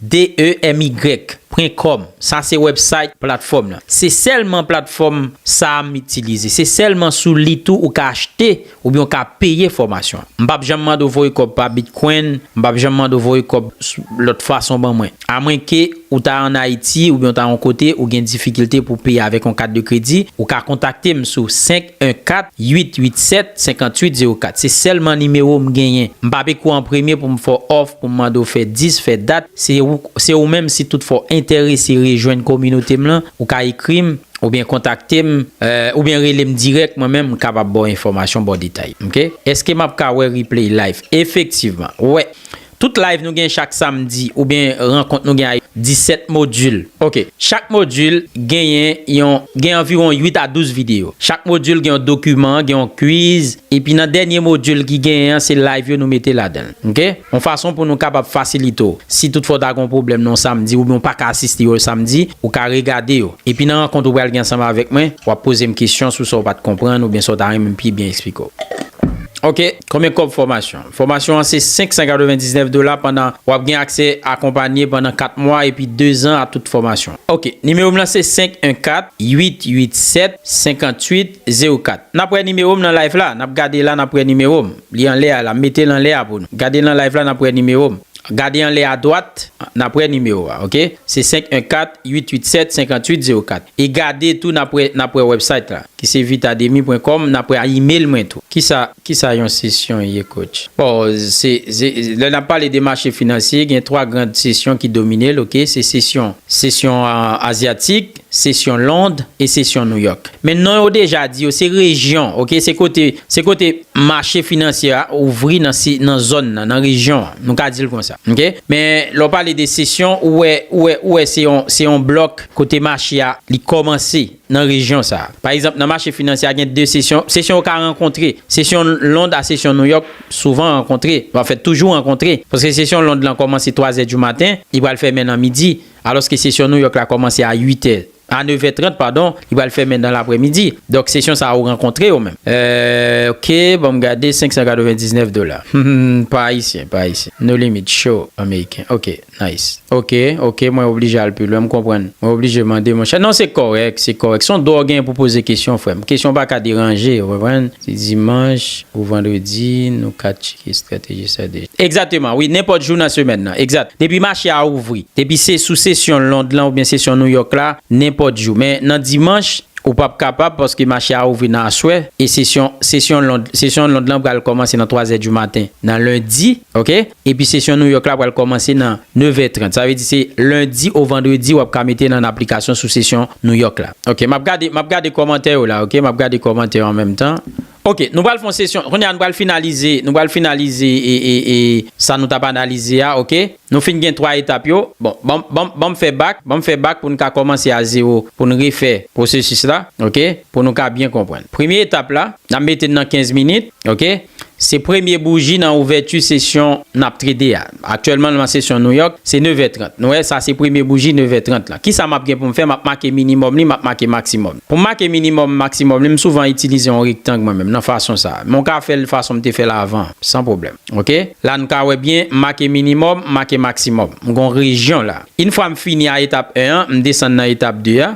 DEMY pwen kòm sa se website platfòm lan se sèlman platfòm sa a m itilize se sèlman sou li tou ou ka achte oubyen ou ka peye fòmasyon an m pap janm mande w voye kòb pa bitcoin m pap janm mande w voye kòb lòt fason ban mwen. A mwen ke ou ta an Ayiti oubyen ou ta yon kote ou gen difikilte pou peye avèk yon kat de kredi, ou ka kontakte m sou 514 887 5804. Se sèlman nimewo m genyen. M pa peko an premye pou m fè w òf, pou m mande w fè dis, fè dat. Se ou, se ou menm si toutfwa w enterese rejwenn kominote m lan, ou ka ekri m oubyen kontakte m, oubyen rele m dirèk mwen menm m kapab ba w enfòmasyon, ba w detay. Ok. Eske m ap ka wè replay live? Efektivman. Wè. Tout live nou gen chak samdi oubyen rankont nou gen a 17 module ok chak module genyen yon gen anviwon 8 a 12 video chak module gen yon dokiman gen yon kwiz epi nan dènye module ki genyen an se live yo nou mete ladanl ok yon fason pou nou kapab fasilite w si tout fwa w ta gen yon pwoblèm nan yon samdi oubyen w pa ka asiste yon samdi ou ka regade yo epi nan rankont ou pral gen ansanm avèk mwen wap pozem kesyon sou sa w pat konprann oubyen sa w ta renmen m pi byen esplike w. Ok konbyen kòb fòmasyon. Fòmasyon an se 599 dola pandan wap gen aksè akonpanye pandan 4 mwa epi 2 zan a tout fòmasyon. Ok nimewo m lan se 514-887-5804 nap wè nimewo m nan live la nap gade la nap wè nimewo m li anlè a la m mete l anlè a pou nou gade l nan live la nap wè nimewo m gade anlè adwat nap wè nimewo a ok se 514-887-5804. E gade tou nap wè nap wè website la ki se vitademy pwen kòm nap wè email mwen tou. Kisa kisa yon sesyon ye coach? Bon se se lè nap pale de mache finansye gen 3 grand sesyon ki domine l ok se sesyon sesyon azyatik, sesyon lond e sesyon nouyòk. Men non yo deja di yo se rejyon ok se kote se kote mache finansye a ouvri nan se nan zòn nan nan rejyon an nou ka di l konsa ok. Men lè w pale de sesyon ou wè ou wè ou wè se yon se yon blòk Kote mache a li kòmanse nan rejyon sa a. Pa egzanp, nan mache finansye a gen de sesyon. Sesyon yo ka rankontre. Sesyon Lond a sesyon Nouyòk souvan rankontre. An fèt, toujou rankontre. Paske sesyon Lond lan kòmanse twazè di maten, li pral fèmen nan midi. Alòske sesyon Nouyòk la kòmanse a uitè, a nevè trant padon, li pral fèmen nan laprèmidi. Donk, sesyon sa yo rankontre yo menm. Eeh ok, ban m gade, 599 dola. Humm, pa ayisyen, pa ayisyen. No limit, show, ameriken. Ok. Nice. Ok ok mwen oblije al pi lwen m konprann mwen oblije mande monchè non se kòrèk se kòrèk son dwa w genyen pou poze kesyon frè m kesyon pa ka deranje ou konprann si dimanch ou vandredi nou ka tcheke estrateji sa deja. Egzateman wi nenpòt jou nan semèn nan egzat depi mache a ouvri depi se sou sesyon Lond lan oubyen sesyon Nouyòk la nenpòt jou men nan dimanch ou pap kapab paske mache a ouvri nan aswè e sesyon sesyon Lond sesyon Lond lan pral kòmanse nan 3 zè di maten nan lendi ok. Epi sesyon New York la pral kòmanse nan 9 è 30. Sa vle di se lendi o vandredi wap ka mete nan aplikasyon sou sesyon New York la. Ok map gade map gade kòmantè yo la ok map gade kòmantè yo an menm tan. Ok nou pral fon sesyon kounya nou pral finalize nou pral finalize e sa nou tap analize a ok nou fin gen 3 etap yo bon banm banm banm fè bak banm fè bak poun ka kòmanse a zero poun refè pwosesis la ok pou nou ka byen konprann premye etap la nap mete nan 15 minit ok Se premye bouji nan ouvèti sesyon n ap trete a. Aktyèlman nan sesyon New York, se nevè trant. Nou wè, sa se premye bouji nevè trant lan. Kisa m ap gen pou m fè? M ap make minimòm li, m ap make maksimòm li. Pou m make minimòm, maksimòm li, m souvan itilize yon rektang mwen menm, nan fason sa a. Men w ka fè l fason m te fè l avan an, san pwoblèm. Oke? La nou ka wè byen, m make minimòm, m make maksimòm. M gen yon rejyon la. Infwa m fini a etap 1 an, m desann nan etap 2 a.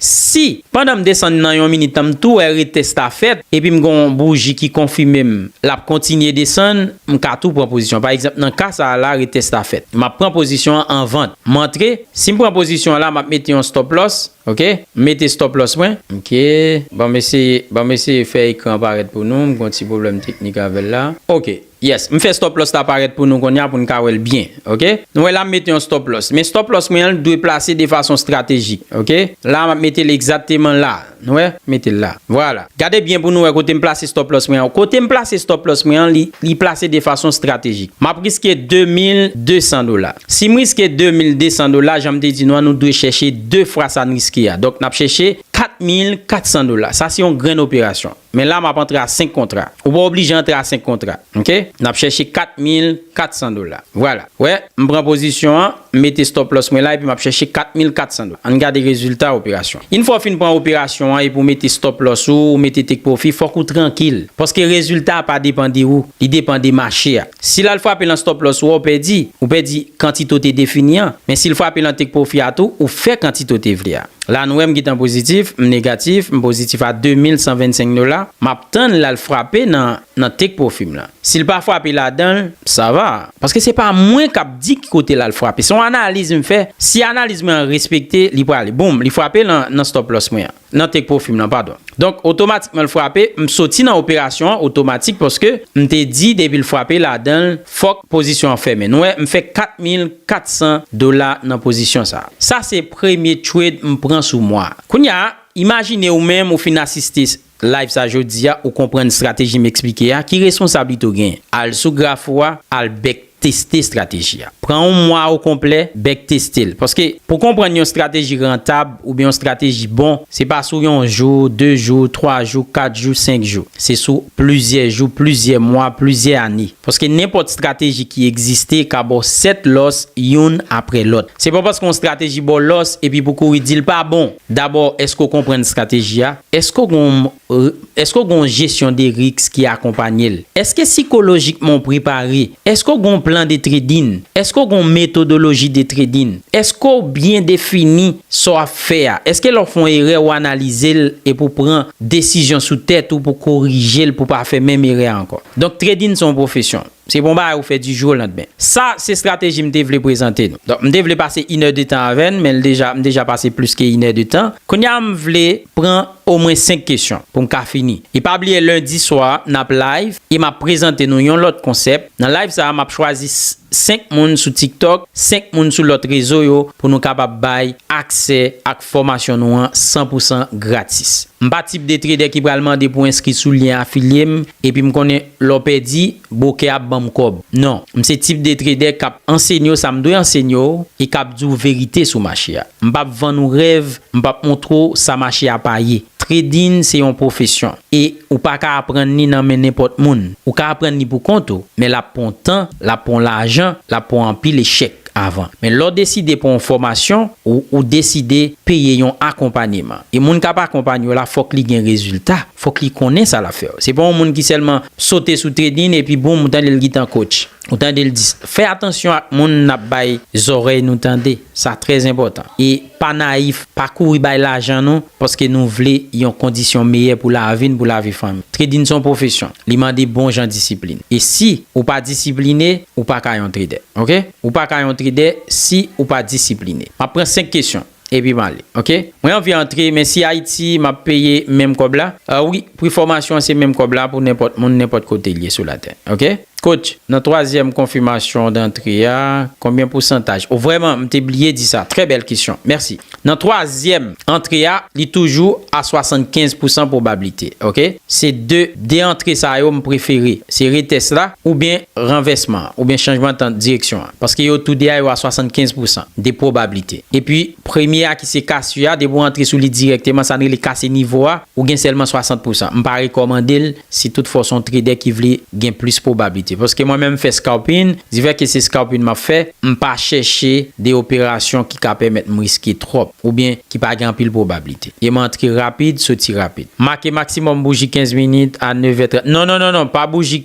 Si, pandan m desann nan yon minit tan m tou wè retès la fèt, epi m gen yon bouji ki konfime m l ap kontinye desann, m ka tou pran pozisyon. Pa egzanp, nan ka sa a la, retès la fèt. M ap pran pozisyon an an vant. M antre. Si m pran pozisyon an la, m ap mete yon stop loss. Ok. M mete stop loss mwen. Ok. Ban m eseye, ban m eseye fè ekran an parèt pou nou. M gen yon ti pwoblèm teknik avè l la. Ok. Yes, m fè stop loss la parèt pou nou konnya pou n ka wè l byen. Ok. Nou wè la m mete yon stop loss. Men stop loss mwen an l dwe plase de fason stratejik. Ok. La m ap mete l egzatteman la. Nou wè? M mete l la. Vwala. Gade byen pou nou wè kote m plase stop loss mwen an. Kote m plase stop loss mwen an li plase de fason stratejik. M ap riske 2200 dola. Si m riske 2200 dola jan m te di nou an nou dwe chèche 2 fwa sa n riske a. Donk n ap chèche 4400 dola. Sa se yon grenn operasyon. Men la map antre a 5 kontra. Ou pa oblije antre a 5 kontra. Ok. Nap chèche 4400 dola. Vwala. Wè. M pran pozisyon an. M mete stop loss mwen la epi map chèche 4400 dola. Ann gade rezilta operasyon. Yn fwa w fin pran operasyon an epi w mete stop loss ou, ou mete take profit, fòk ou trankil. Paske rezilta a pa depan de ou. Li depan de mache a. Si lal frape lan stop loss ou a ou pèdi, ou pèdi kantite ou te defini an, men sil frape lan take profit a tou ou fè kantite ou te vle a. La nou wè m gentan pozitif, m negatif, m pozitif a 2125 dola, map tann lal frape nan nan take profit m lan. Sil pa frape ladanl, sa va. Paske se pa mwen kap di ki kote lal frape, se yon analiz m fè, si analiz mwen an respekte li prale. Boom, li frape lan nan stop loss mwen an. nan take profim lan padon donk otomatikman l frape m soti nan operasyon an otomatik paske m te di depi l frape ladan l fòk pozisyon an fèmen nou wè m fè 4400 dola nan pozisyon sa sa se premye trade m pran sou mwa kounya imajine ou menm ou fin asiste live sa jodia ou konprann strateji m esplike a ki responsablite ou genyen al sou graf ou a al bèk. Teste estrateji a. Pran yon mwa okonplè, bèk teste l. Paske, pou konprann yon estrateji rantab oubyen yon estrateji bon, se pa sou yon jou, de jou, twa jou, kat jou, senk jou. Se sou plizyè jou, plizyè mwa, plizyè ane. Paske nenpòt estrateji ki egziste ka ba w 7 lòs youn apre lòt. Se pa paske yon estrateji ba w lòs epi pou w kouri di l pa bon! Dabò, èske w konprann estrateji a? Èske w gen yon. R, Èske w gen yon jesyon de riks ki akonpanye l? Èske sikolojikman w prepare? Èske w gen yon plan de tradin? Èske w gen yon metodoloji de tradin? Èske w byen defini sa w ap fè a? Èske lè w fè yon erè ou analize l epi ou pran desizyon sou tèt ou pou korije l pou w pa fè menm erè a ankò? Donk tradin se yon pwofesyon. Se bon bagay ou fè di jou olandmen. Sa se strateji m te vle prezante nou. Donk m te vle pase inè de tan avè n men l deja m deja pase plis ke inè de tan. Kounye a m vle pran omwen 5 kesyon pou m ka fini. E pa bliye lendi swa n ap live e m ap prezante nou yon lòt konsèp. Nan live sa a m ap chwazi 5 moun sou tiktok, 5 moun sou lòt rezo yo pou nou kapab bay aksè ak fòmasyon nou an san pou san gratis. M pa tip de tredè ki pral mande pou enskri sou lyen afilye m epi m konnen. Lè w pèdi, bwokè a ap ban m kòb. Non. M se tip de tredè k ap ansenye w sa m dwe ansenye w e k ap di w verite sou mache a. M pap vann ou rèv, m pap montre w sa mache a pa ye. Trading se yon pwofesyon e ou pa ka aprann li nan men nenpòt moun. Ou ka aprann li pou kont ou, men l ap pran w tan, l ap pran w lajan, l ap pran w anpil echèk avan. Men lè w deside pran yon fòmasyon, ou deside peye yon akonpanyeman. E moun k ap akonpanye w la fòk li gen rezilta. Fòk li konnen sa lap fè. Se pa yon moun ki sèlman sote sou tredin epi boum ou tande l gitan kotch. Ou tande l di sa. Fè atansyon ak moun nap bay zòrèy nou tande. Sa trè enpòtan. E pa nayif, pa kouri bay lajan nou paske nou vle yon kondisyon meyè pou lavi n, pou lavi fanmi. Tredin se yon pwofesyon. Li mande bon jan disiplin. E si ou pa disipline, ou paka yon tredè. Ok? Ou paka yon tredè si ou pa disipline. Map pran 5 kesyon. Epi male ok. Mwen anvi antre men si ayiti map peye menm kob la ah wi pri fomasyon se menm kob la pou nenpot moun nenpot kotel ye sou latè ok coach nan twazyèm konfimasyon dantre a konbyen pousantaj oh vreman m te bliye di sa trè bèl kesyon merci nan twazyèm antre a li toujou a 75 pousan pwobablite ok se de de antre sa yo m prefere se retès la oubyen ranvèsman oubyen chanjman tan direksyon. Paske yo tou 2 a yo a 75 pousan de pwobablite. Epi premye a ki se Cassio a depi w antre sou li dirèkteman sa n rele kase nivo a ou gen sèlman 60 pousan. M pa rekòmande l si tout fwa w se yon tredè ki vle gen plis pwobablite. Paske mwen menm m fè scalping, difè ke se scalping m ap fè, m pa chèche de operasyon ki ka pèmèt m riske twòp oubyen ki pa gen anpil pwobablite. E m antre rapid, soti rapid. Make maksimòm bouji 15 minit a 9 è 30. Non non non non pa bouji.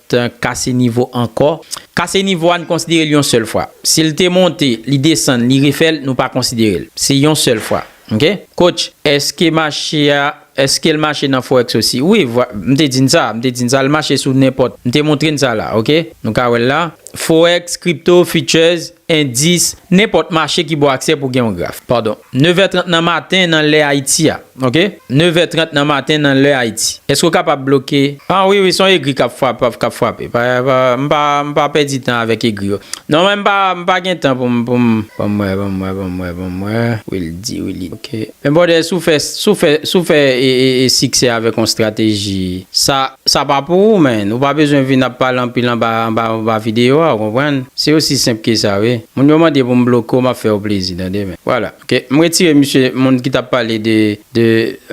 T kase nivo ankò. Kase nivo a n konsidere l yon sèl fwa. Si l te monte, li desann, li refè l, nou pa konsidere l. Se yon sèl fwa. Ok. Coach, èske mache a, èske l mache nan forex osi? Wi, m te di n sa, m te di n sa, l mache sou nenpòt. M te montre n sa la. Ok. Nou ka wè l la. Forex, crypto, futures, Endis, Nenpòt mache ki bon aksè pou gen yon graf. Padon. Nevè trant nan maten nan lè Ayiti a. Ok. Nevè trant nan maten nan lè Ayiti. Èske ou kapab bloke. Ah wi wi, se yon egri k ap frap, k ap frape. Pa, pa, m pa, m pa pèdi tan avèk egri yo. Non men m pa, m pa gen tan pou m, pou m. Ban m wè, ban m wè, ban m wè, ban m wè. Wildy, Willy, ok. Men brother si w fè si w fè si w fè siksè avèk yon strateji sa sa pa pou ou man ou pa bezwen vin ap pale anpil anba anba anba videyo a ou konprann se osi senp ke sa wi moun yo mande pou m bloke w m ap fè yo plezi tande men vwala ok m retire misye moun ki t ap pale de de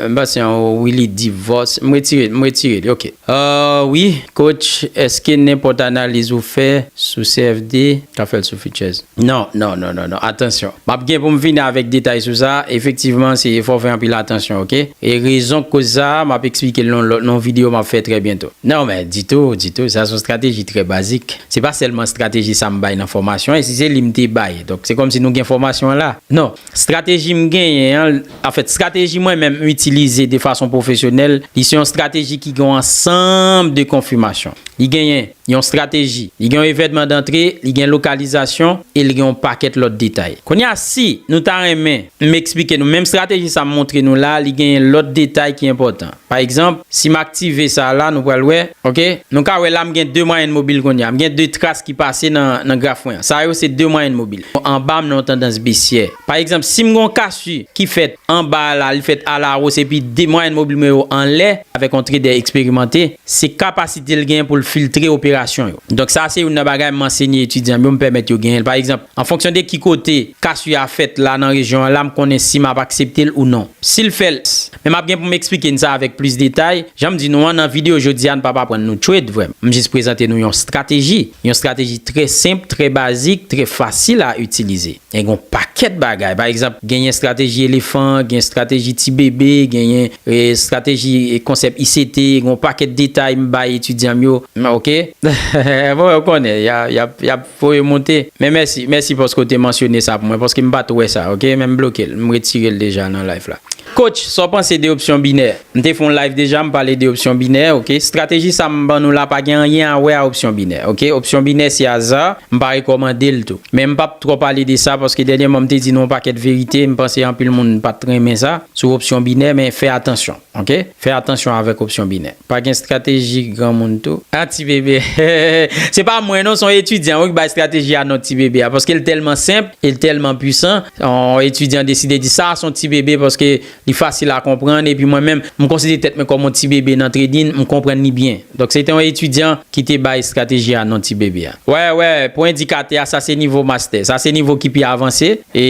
m pa se an ou wi li divòs m retire l m retire li ok ahh wi Coach eske nenpòt analiz ou fè sou CFD ka fèl sou futures? Non non non non non atansyon map gen poum vini avèk detay sou sa efektivman se fòw fè anpil atansyon ok e rezon k koz sa map eksplikel nan yon video map fè trè byento. Non men ditou ditou sa son strateji trè bazik se pa sèlman strateji sam bay nan fòmasyon an e si se li mte bay donk se kòmsi nou gen fòmasyon an la non. Strateji m genyen an, anfèt, strateji mwen menm m itilize de fason pwofesyonèl, li se yon strateji ki gen yon ansanm de konfimasyon. Li genyen yon strateji, li gen yon evènman dantre, li gen lokalizasyon e li gen yon pakèt lòt detay. Kounye a, si nou ta renmen m esplike nou menm strateji sa m montre nou la a, li genyen lòt detay ki enpòtan. Pa egzanp, si m aktive sa a la, nou pral wè. Ok. Nou ka wè la m gen 2 mwayèn mobil kounye a. M gen 2 tras ki pase nan graf mwen an. Sa yo se 2 mwayèn mobil. Anba m nan yon tandans besyè. Pa egzanp, si m gen yon kasu ki fèt anba a la, li fèt alawos epi 2 mwayèn mobil mwen yo anlè, avèk yon trader eksperimante, se kapasite l genyen pou l filtre operasyon yo. Donk sa a se youn nan bagay m ansenye etidyan m yo, m pèmèt yo genyen l. Pa egzanp, an fonksyon de ki kote kasu a fèt la nan rejyon an la, m konnen si m ap aksepte l ou non. Si l fè l, Men map gen pou m eksplike n sa avèk plis detay, jan m di nou an nan videyo jodi a n pap aprann nou trade vre m jis prezante nou yon strateji, yon strateji trè senp, trè bazik, trè fasil a itilize. E gen yon pakèt bagay, pa egzanp genyen strateji elefan, gen strateji ti bebe, genyen strateji konsèp ICT, gen yon pakèt detay m bay etidyan m yo, ok, bon yo konnen yap. Voye moute. Men mèsi, mèsi paske w te mansyone sa pou mwen paske m pat wè sa ok men m bloke l, m retire l deja nan live la. Coach, sa w panse de opsyon binè? M te fè yon live deja m pale de opsyon binè ok, strateji sa m ban nou la pa gen anyen a wè a opsyon binè ok, opsyon binè se aza, m pa rekòmande l tou. Men m pap twò pale de sa paske dènyèman m te di nou yon pakèt verite m panse anpil moun pat renmen sa sou opsyon binè men fè atansyon. Ok fè atansyon avèk opsyon binè. Pa gen strateji granmoun tou. Ah ti bebe hehehehe se pa mwen non son etidyan wi ki bay strateji a non ti bebe a paske l tèlman senp e l tèlman pwisan yon etidyan deside di sa son ti bebe paske li fasil a konprann epi mwen menm m konsidere tèt mwen kòm yon ti bebe nan trading m konprann li byen. Donk se te yon etidyan ki te bay estrateji a non ti bebe a. Wè wè pou endikatè a sa se nivo mastè. Sa se nivo ki pi avanse. E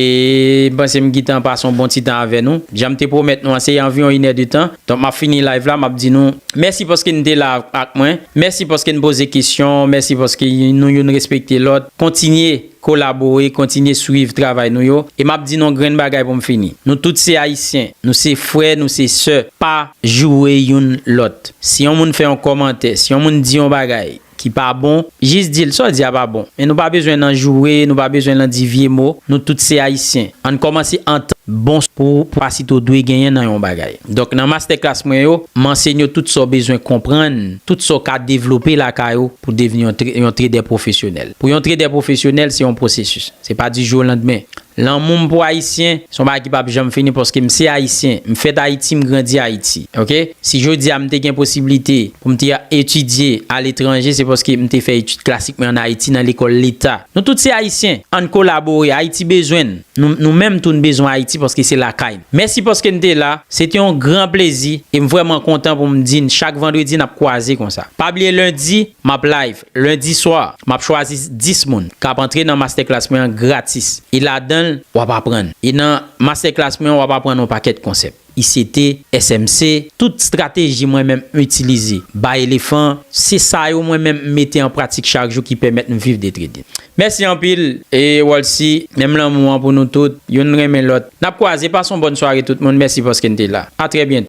m panse m gitan pase yon bon ti tan avè nou. Jan m te pwomèt nou an se anviwon inè de tan. Donk m ap fini live la m ap di nou mèsi paske nou te la ak mwen. Mèsi paske nou poze kesyon. Mèsi paske nou youn respekte lòt. Kontinye. kolabore, kontinye swiv travay nou yo, e map di non grenn bagay pou m fini, nou tout se ayisyen, nou se frè, nou se sè, pa joure youn lòt, si yon moun fè yon kòmantè, si yon moun di yon bagay ki pa bon, jis di l sa w di a pa bon, men nou pa bezwen nan joure, nou pa bezwen lan di vye mo, nou tout se ayisyen, ann kòmanse antann bon pou pasito dwe genyen nan yon bagay. Donk nan mastè klas mwen yo, m ansenye w tout sa w bezwen konprann, tout sa w ka devlope lakay ou pou devni yon tredè pwofesyonèl. Pou yon tredè pwofesyonèl, se yon pwosesis. Se pa di jou o landmen. Lanmou m pou Ayisyen, se yon bagay ki pap janm fini paske m se Ayisyen. M fèt Ayiti, m grandi Ayiti. Ok? Si jodi a m te gen posiblite pou m te etidye aletranje, se paske m te fè etid klasik mwen an Ayiti nan lekòl leta. Nou tout se Ayisyen. Ann kolabore. Ayiti bezwen n. Nou, nou menm tou n bezwen Ayiti paske se lakay n. Mèsi paske n te la. Se te yon gran plezi e m vrèman kontan pou m di n chak vandredi n ap kwaze konsa. Pa bliye lendi, m ap live. Lundi swa, m ap chwazi 10 moun k ap antre nan mastèklas mwen an gratis e ladan l w ap aprann e nan mastèklas mwen an w ap aprann yon pakèt konsèp ICT, SMC, tout strateji mwen menm m itilize bay elefan se sa yo mwen menm m mete an pratik chak jou ki pèmèt m viv de trading. Mèsi anpil e Walcy, menm lanmou an pou nou tout, youn renmen lòt. N ap kwaze, pase yon bòn sware tout moun, mèsi paske n te la. A trè byento.